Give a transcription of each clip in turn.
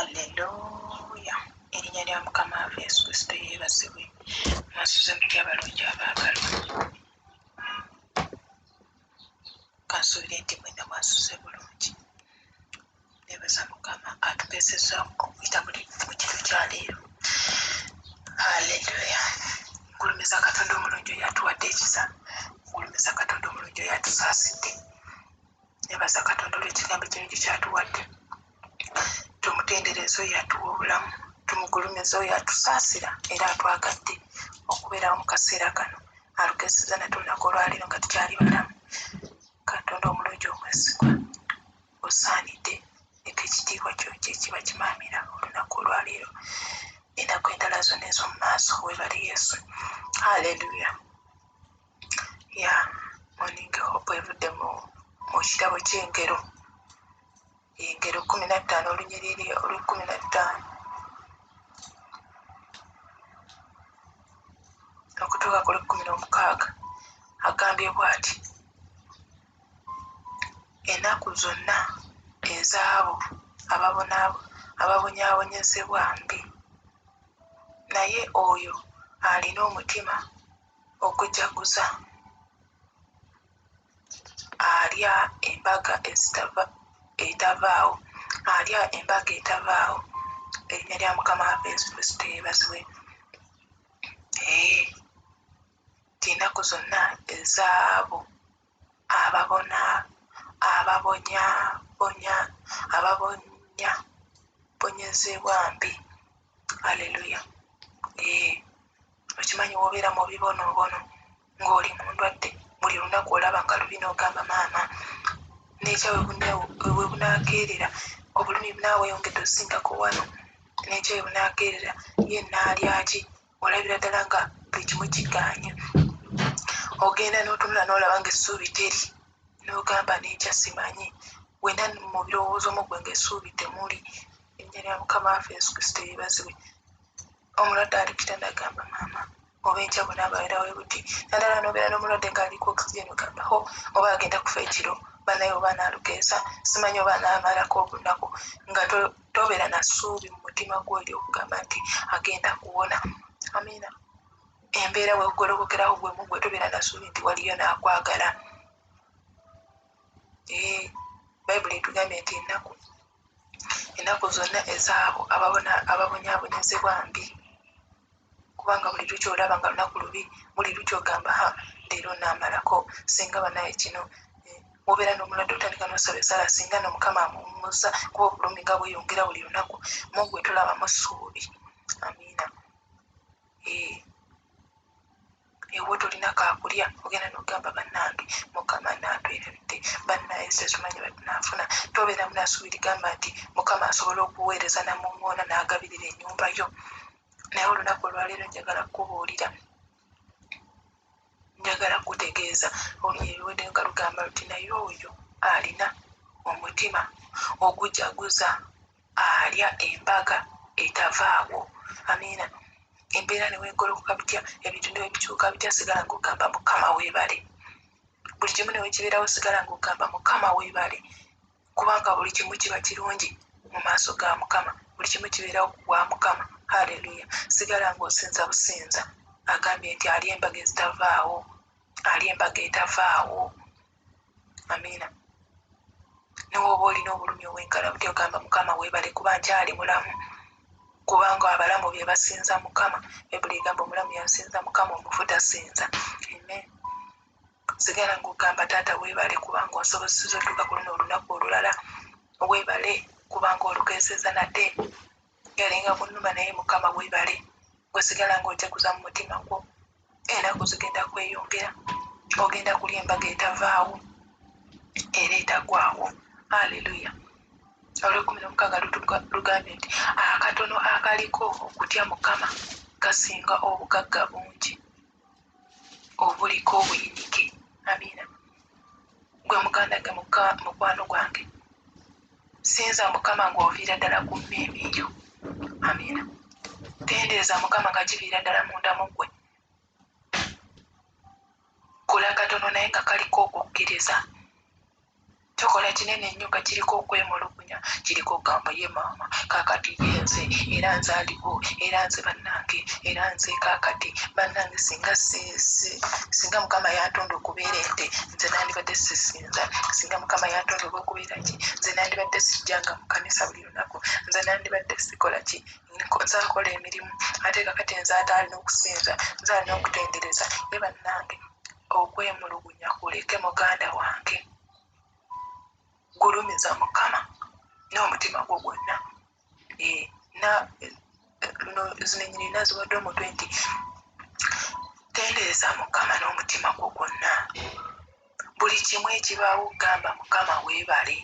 Alleluuya! Erinnya lya Mukama waffe Yesu Kristo yeebazibwe. Mwasuze mutya abalungi abaagalwa? Kansuubire nti mwenna mwasuze bulungi. Neebaza Mukama atukeesezza okuyita mu kiro kya leero. Alleluuya! Ngulumiza Katonda omulungi oyo atuwadde ekisa. Ngulumiza Katonda omulungi oyo atusaasidde. nebaza katonda olwekigambo kino kyekyatuwadde tumutendereza oyo atuwa obulamu tumugulumiza oyo atusaasira era atwagadde okubeerawo mu kaseera kano alugezeza nate olunaku olwaliro nga tukyali balamu katonda omulungi omwesigwa osaanidde eka ekitiibwa kyo kyekiba kimaamira olunaku olwaleero enaku endala zonna ez'omu maaso webali yesu haleluya ya moningi hope evudde mu kirabo kyengero engero kumi na ttaano olunyiriri olwekumi na ttaano okutuuka ku lwekumi n'omukaaga agambye bwati enaku zonna ezaabo ababonyaabonyezebwa mbi naye oyo alina omutima okujaguza alya embaga ezitava etavaawo alya embaga etavaawo erinnya lya mukama waffe yesu kristo yebaziwe enaku zonna ezaabo ababona ababonyabonya ababonyabonyezebwa mbi aleluya ee okimanyi wobeera mu bibonoobono ng'oli mu ndwadde buli lunaku olaba nga lubi n'ogamba maama nekya webunakeerera obulumi bunaawe yongedde osingako wano nekya webunakeerera ye naalyaki olabira ddala nga buli kimu kigaanye ogenda n'otunula n'olaba nga essuubi teri n'ogamba n'enkya simanyi wena mu birowoozo mu gwe ng'essuubi temuli erinnya lya mukama waffe yesu kristo yeebazibwe omulwadde ali kitanda agamba maama oba enkya bwe naababeera we buti naddala n'obeera n'omulwadde ng'ali ku oxygen ogamba ho oba agenda kufa ekiro banaye oba anaalukeesa simanyi oba anaamalako olunaku nga tobeera na ssuubi mu mutima gwo eryokugamba nti agenda kuwona amiina embeera wegolobokerawo gwemu gwe tobeera na ssuubi nti waliyo naakwagala eh, bayibuli etugambye nti ennaku ennaku zonna ezaabo ababonyaabonyezebwa mbi kubanga buli lukya olaba nga lunaku lubi buli lukya ogamba ha leero namalako singa banaye kino eh, wobeera nomulwadde otandika nosaba esala singa no mukama amuwumuza kuba obulumi nga bweyongera buli lunaku mungu wetulabamu suubi amiina eh. ewo tolina kakulya ogenda nogamba banange mukama natwerabidde banaye setumanyi batunafuna tobeera munasubiri gamba nti mukama asobola okuweereza namuŋoona nagabirira enyumba yo naye olunaku olwaleero njagala kukubuulira njagala kukutegeeza oluyebiwede nga lugamba luti naye oyo alina omutima ogujaguza alya embaga etavaako amiina embeera newegolokoka bitya ebintu newebikyuka bitya sigala ngaogamba mukama webale buli kimu newekibeerawo sigala ngaogamba mukama webale kubanga buli kimu kiba kirungi mu maaso ga mukama buli kimu kibeerawo kugwa mukama haleluya sigala ngaosinza businza agambye nti ali embaga ezitavaawo ali embaga etavaawo amiina newooba olina obulumi obwenkana butya ogamba mukama webale kuba nkyali mulamu kubanga abalamu be basinza mukama bayibuli egamba omulamu yasinza mukama omufu tasinza amen sigala ngaogamba taata webale kubanga onsobozesiza otuuka ku luno olunaku olulala webale kubanga olukeeseza nate galinga kunuma naye mukama webale gwe sigala nga otekuza mu mutima gwo enaku zigenda kweyongera ogenda kulya embaga etavaawo era etagwawo aleluya olwekumi nomukaaga lugambye nti akatono akaliko okutya mukama kasinga obugagga bungi obuliko obuyinike amiina gwe muganda ge mukwano gwange sinza mukama ngaoviira ddala ku mmeeme eyo amiina tendeeza mukama nga kiviira ddala munda mu gwe kola katono naye nga kaliko okukkiriza Tukola kinene nnyo nga kiriko okwemulugunya, kiriko okugamba ye maama, kaakati ye nze, era nze aliwo, era nze bannange, era nze kaakati. Bannange, singa, singa Mukama yantonda okubeera ente, nze nandibadde sisinza. Singa Mukama yantonda oba okubeera ki, nze nandibadde sijjanga mu kkanisa buli lunaku, nze nandibadde sikola ki, nze akola emirimu, ate kaakati nze ate alina okusinza, nze alina okutendereza. Ye bannange! Okwemulugunya kuleke muganda wange. Gulumiza Mukama n'omutima gwo gwonna. Eh, na luno zino enyini naziwadde omutwe nti tendereza mukama n'omutima gwo gwonna buli kimu ekibaawo gamba mukama weebale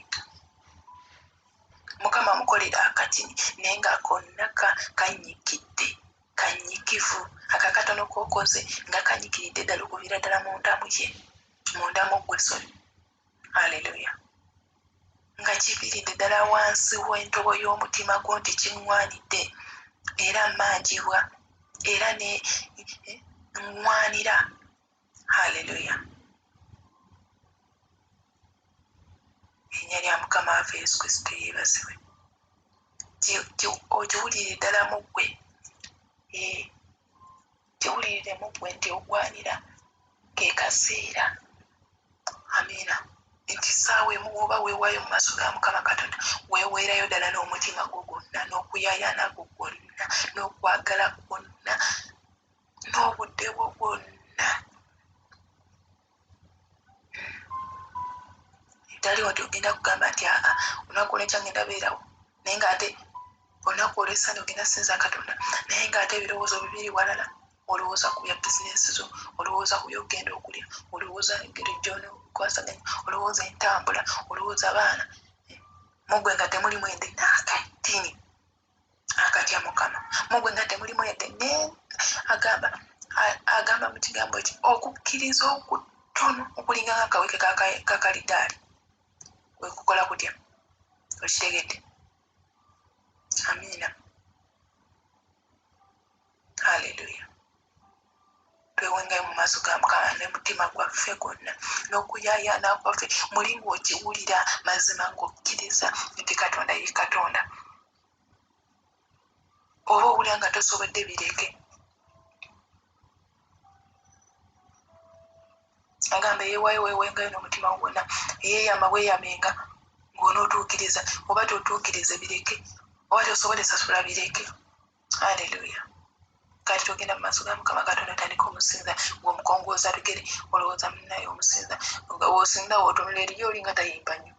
mukama mukolera akatini naye nga konna kanyikidde Kanyikivu. Ako akatono k'okoze nga kanyikiridde ddala okuviira ddala munda mu ye, munda mu ggwe, sorry. Aleluya! Nga kiviiridde ddala wansi w'entobo y'omutima gwo nti kiŋŋwanidde, era mmanjibwa, era ne ŋŋwanira haleluya erinnya lya mukama waffe yesu kristo yeebazibwe ogiwulire ddala mu ggwe eh, giwulirire mu ggwe nti ogwanira ke kaseera amiina nti saawa emu woba weewaayo mu maaso ga mukama katonda weeweerayo ddala n'omutima gwo gwonna n'okuyayaana gwo gwonna n'okwagala kwonna n'obudde bwo bwonna tali wati ogenda kugamba nti aa olunaku olwenkya ngenda beerawo naye ngaate olunaku olwesande ogenda sinza katonda naye ngaate ebirowoozo bibiri walala olowooza ku bya bizinesi zo olowooza ku byokugenda okulya olowooza engeri gyonokwasaganya olowooza entambula olowooza baana mugwe nga temuli mwende nakatini akatya mukama mugwe nga temulimu yadde ne agamba agamba mu kigambo ki okukkiriza okutono okulinga nga akaweke kakalidaali kwekukola kutya okitegedde amiina haleluya twewengayo mu maaso ga mukama ne mutima gwaffe gwonna n'okuyayaana kwaffe muli ng'okiwulira mazima ng'okkiriza nti katonda ye katonda oba owulira nga tosobodde bireke agamba yewayo wewengayo n'omutima gwonna eyeyama weyamenga ng'onootuukiriza oba totuukirize bireke oba tosobole sasula bireke aleluya kati togenda mu maaso ga mukama katonda tandika omusinza ngaomukongooza lugere olowooza munaye omusinza osinza wotunula eri yolinga tayimba nyo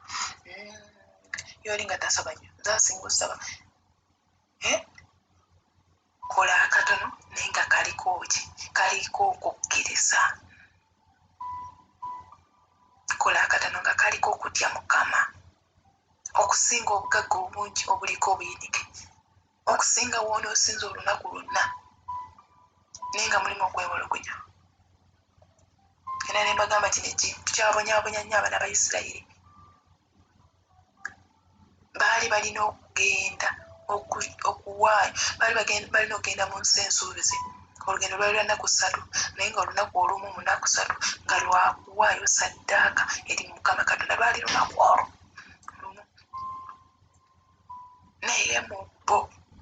mm, yolinga tasaba nyo zasinga osaba eh? kola akatono naye nga kaliko ki kaliko okukkiriza kola akatono nga kaliko okutya mukama okusinga obugagga obungi obuliko obuyinike okusinga wonoosinza olunaku lwonna naye nga mulimu okwewologonya era nembagamba kino ekintu kyabonyabonya nnyo abaana ba isirayiri baali balina okugenda okuwaayo baali balina okugenda mu nsi ensuubizi olugendo lwali lwa nnaku ssatu naye nga olunaku olumu mu nnaku ssatu nga lwakuwaayo saddaaka eri mukama katonda lwali lunaku olwo naye mu bo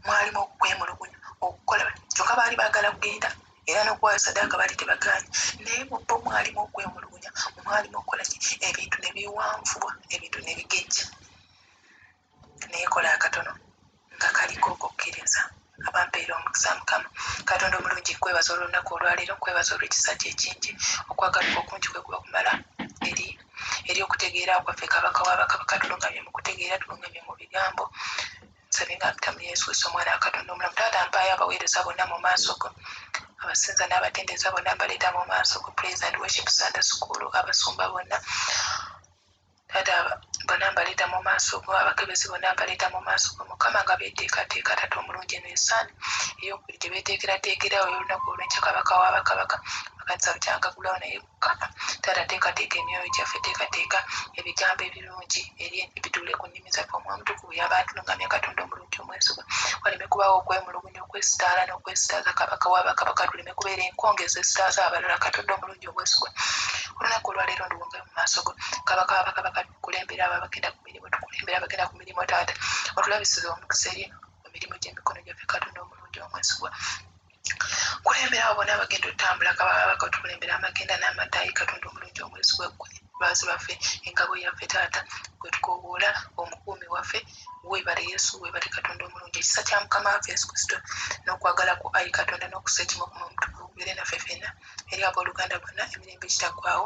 mwalimu okwemulugunya okukola kyokka baali baagala kugenda era n'okuwaayo sadaaka baali tebagaanyi naye mu bo mwalimu okwemulugunya mwalimu okukola ki ebintu ne biwanvubwa ebintu ne bigejja naye kola akatono nga kaliko okukkiriza abampeera omukisa mukama katonda omulungi nkwebaza olwolunaku olwaleero nkwebaza olwekisa kyo ekingi okwagaluka okungi kwe kuba kumala eri eri okutegeera kwaffe kabaka wabakabaka tulungamye mu kutegeera tulungamye mu bigambo nsabye nga mpita mu yesu kristo omwana wa katonda omulamu taata mpaayo abaweereza bonna mu maaso go abasinza n'abatendereza bonna mbaleeta mu maaso go praise and worship sunday school abasumba bonna Taata bona mbaleeta mu maaso go, abakebezi bonna mbaleeta mu maaso go, Mukama, nga beeteekateeka, Taata omulungi, eno y'essaala ey'okubiri gye beeteekerateekera awo ey'olunaku olw'enkya, Kabaka wa bakabaka, amakanisa bukyanga gulawo, naye Mukama, Taata teekateeka emyoyo gyaffe, teekateeka ebigambo ebirungi eri bituule ku nnimi zaffe, Omwoyo Omutukuvu y'aba atulungamya, Katonda omulungi omwesigwa, waleme kubaawo okwemulugunya. nnyo okwesitaala n'okwesitaaza kabaka wa bakabaka tuleme kubeera enkonge ezesitaaza abalala katonda omulungi obwesigwa olunaku olwaleero ndiwonge mu maaso go kabaka wa bakabaka tukulembera abo abagenda ku mirimu tukulembera abagenda ku mirimu taata otulabisiza omukisa eri emirimu gy'emikono gyaffe katonda omulungi omwesigwa kulembera abo bona abagenda otutambula kababaka otukulembera amagenda n'amataayi katonda omulungi omwesigwa gwe lwazi lwaffe engabo yaffe taata gwe tukowoola omukuumi waffe webale yesu webale katonda omulungi ekisa kya mukama waffe yesu kristo n'okwagala ku ayi katonda n'okusa ekimu okuma omutukuvu kubeere naffe fena eri abooluganda bonna emirembe ekitaggwawo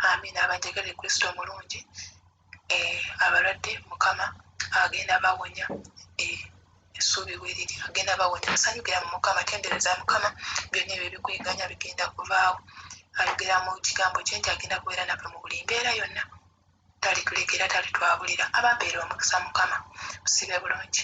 amiina abanjagala e kristo omulungi eh, abalwadde mukama agenda bawonya eh, essuubi weriri agenda bawonya musanyukira mu mukama tendereza mukama byonna ebyo ebikweganya bigenda kuvaawo ayogera mu kigambo kye nti agenda kubeera naffe mu buli mbeera yonna talituleka era talitwabulira ababeera omukisa mukama musibe bulungi.